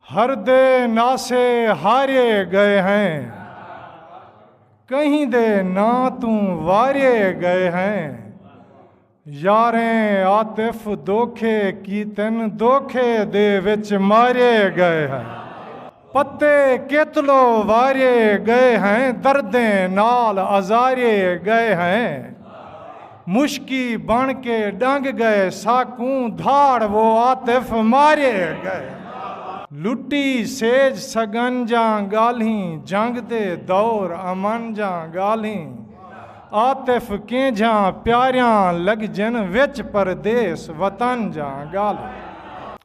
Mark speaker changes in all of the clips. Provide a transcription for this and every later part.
Speaker 1: ہر دے ناسے ہارے گئے ہیں کہیں دے نا توں وارے گئے ہیں یاریں عاطف دوکھے کیتن دوکھے دے وچ مارے گئے ہیں پتے کیتلو وارے گئے ہیں دردیں نال ازارے گئے ہیں مشکی بݨ کے ݙنگ ڳئے ساکوں دھاڑ وہ عاطف مارے ڳئے لٹی سیج سڳن جاں ڳالھیں جنگ دے دور امن جاں ڳالھیں عاطف کینجھاں پیاریاں لڳجن وچ پردیس وطن جاں ڳالھیں۔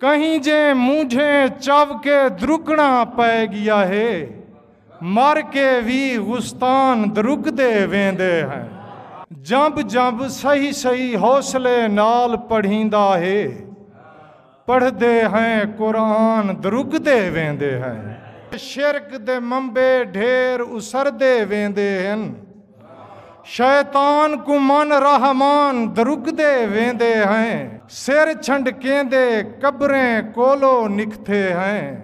Speaker 1: کہیں جے مونجھیں چو کے درکنا پئے گیا ہے مر کے وی غستان درکدے ویندے ہیں۔ جنب جنب صحیح صحیح حوصلے نال پڑھیندا ہے پڑھدے ہیں قرآن درکدے ویندے ہیں۔ شرک دے منبع ڈھیر اسردے ویندے ہن۔ شیطان کوں من رحمان درکدے ویندے ہیں سر چھنڈکیندے قبریں کولو نکھتے ہیں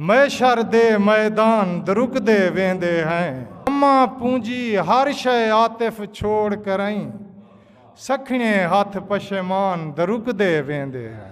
Speaker 1: میشر دے میدان درکدے ویندے ہیں اماں پونجی ہر شے عاطف چھوڑ کرئیں سکھنیں ہتھ پشیمان درکدے ویندے ہیں۔